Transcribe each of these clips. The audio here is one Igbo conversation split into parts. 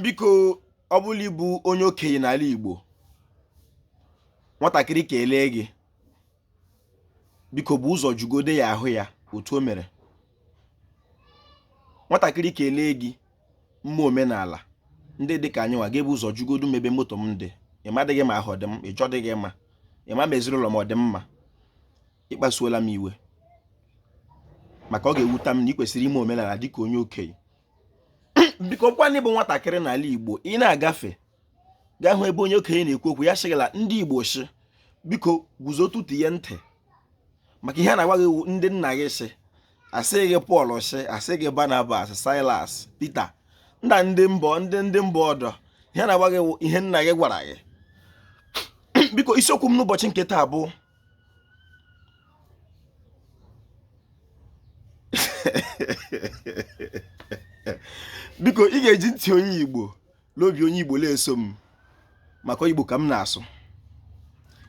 biko ọ bụla ị bụ onye okenye n'ala Igbo nwatakịrị kelee gị biko bu ụzọ jụgodu ya ahụ ya otu o mere nwatakịrị kelee gị mma omenala ndị dị ka anyị nwa ga-ebu ụzọ jụgodu m ebe m otu m dị ị madịghị ma ahụ dị m njọ dịghị mma ị ma ma ezinụlọ m ọ dị mma ị kpasuola m iwe maka ọ ga-ewuta m na ị kwesịrị ime omenala dịka onye okenye biko kwa na ị bụ nwatakịrị n'ala Igbo ị na-agafe gị ahụ ebe onye okenye na-ekwu okwu ya sị gị la ndị Igbo sị biko guzo tọtụ ya ntị maka ihe a na-agwa gị ndị nna gị sị asịghị Pọl sị asịghị Barnabas Silas Pita na ndị mba ọdọ ihe a na-agwa gị ihe nna gị gwara gị biko isiokwu m n'ụbọchị nke taa bụ biko ị ga-eji ntị onye Igbo na obi onye Igbo na-eso m maka Igbo ka m na-asụ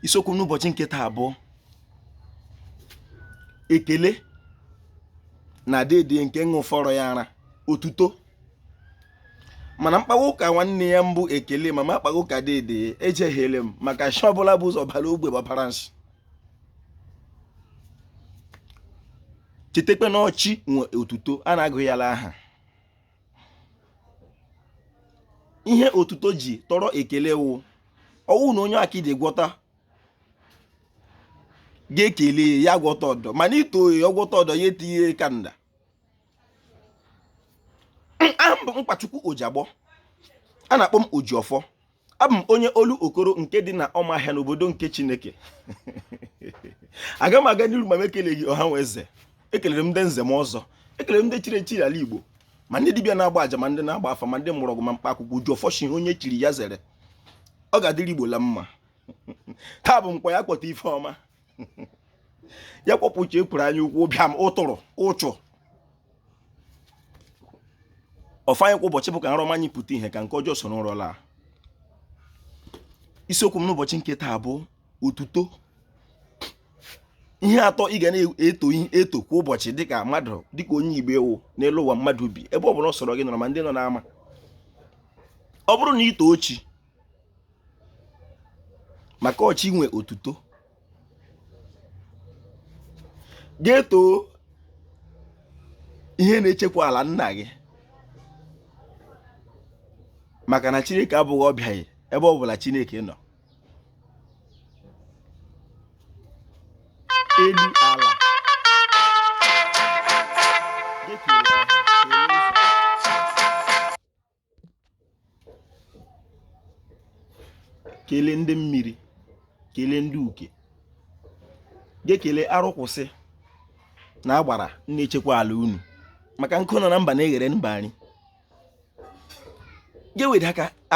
isiokwu n'ụbọchị nke taa bụ ekele na dede nke ṅụfọrọ ya ara otuto mana m kpawa ụka nwanne ya bụ ekele ma m akpaghị ụka dede ejehiele m maka shi ọbụla bu ụzọ bara ogbe gbabara nsị chetakwa na ọ chi nwe otuto a na-agụ ya la aha ihe otuto ji tọrọ ekele wụ ọ wụ na onye akidi gwọta gị ekelee ya gwọta ọdọ mana i too ya ọ gwọta ọdọ ya etinye kanda aha m bụ Nkwachukwu Ojiagbọ a na-akpọ m Ojiọfọ abụ m onye Olokoro nke dị na Ọmahịa n'obodo nke Chineke aga m aga n'iru ma m ekeleghị ọha na eze ekelere m ndị nze na ọzọ ekelere m ndị chiri echi l'ala Igbo ma ndị dibịa na-agba aja ma ndị na-agba afa ma ndị mgbọrọgwụ na mkpa akwụkwọ Ojiọfọ shi onye chiri ya zere ọ ga-adịrị Igbo la mma taa bụ Nkwọ ya kwọta ife ọma ya kwọpụcha ekworo anya ukwu bịa m ụtụrụ ụchụ ọfọ anyị kwa ụbọchị bụ ka nrọ ọma anyị pụta ihe ka nke ọjọọ soro ụra laa isiokwu m n'ụbọchị nke taa bụ otuto ihe atọ ị ga na-eto kwa ụbọchị dịka mmadụ dịka onye igbo ị wụ n'elu ụwa mmadụ bi ebe ọ bụla ọ sọrọ gị nọrọ ma ndị nọ n'ama ọ bụrụ na i too chi maka ọ chi nwe otuto ga-eto ihe na-echekwa ala nna gị maka na chineke abụghị ọbịa gị ebe ọ bụla chineke nọ elu ala kelee ndị mmiri kelee ndị uke ga-ekele arụkwụsị na agbara na-echekwa ala unu maka nkụ nọ na mba na-eghere mba nri ga-ewere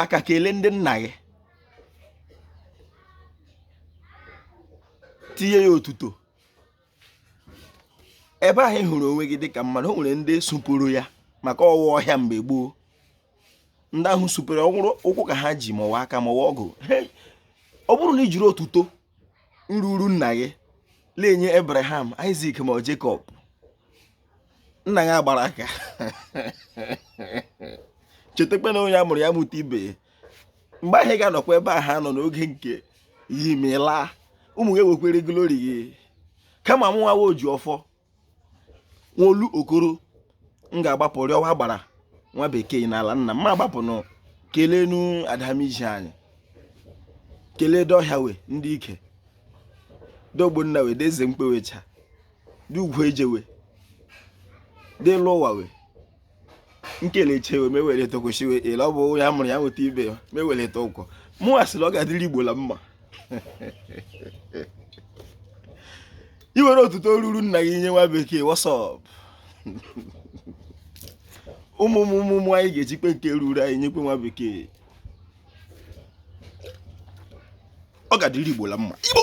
aka kelee ndị nna gị tinye ya otuto ebe ahụ ị hụrụ onwe gị dịka mmadụ o nwere ndị sụpụrụ ya maka ọwa ọhịa mgbe gboo ndị ahụ sụpụrụ ọrụ ụkwụ ka ha ji ma ọ wụ aka ma ọ wụ ọgụ ọ bụrụ na i jiri otuto ruru nna gị na-enye Abraham Isaac ma Jacob nna gị agbara aka chetakwa na onye a mụrụ ya mụta ibe mgbe ahụ ị ga-anọkwa ebe ahụ ha nọ n'oge nke gị ma ị laa ụmụ gị ewekwere glori gị kama mụwa nwa oji ọfọ nwolu okoro m ga-agbapụ rịọwa agbara nwa bekee n'ala nna m gbapụnụ keleenụ adamiji anyị kelee dọhịa we ndị ike dogbonna we deze mkpewecha dị ugwu ejewe dị lụwa we nkelechi ewe mewere tokwesịwe ele ọ bụ ya mụrụ ya nweta ibe ya mewere ta ụkọ mụ asịrị ọ ga-adịrị igbo la mma i were otuto ruru nna gị nye nwa bekee wasọp ụmụ ụmụ anyị ga-ejikpe nke ruru anyị nyekwe nwa bekee ọ ga-adịrị igbo la mma igbo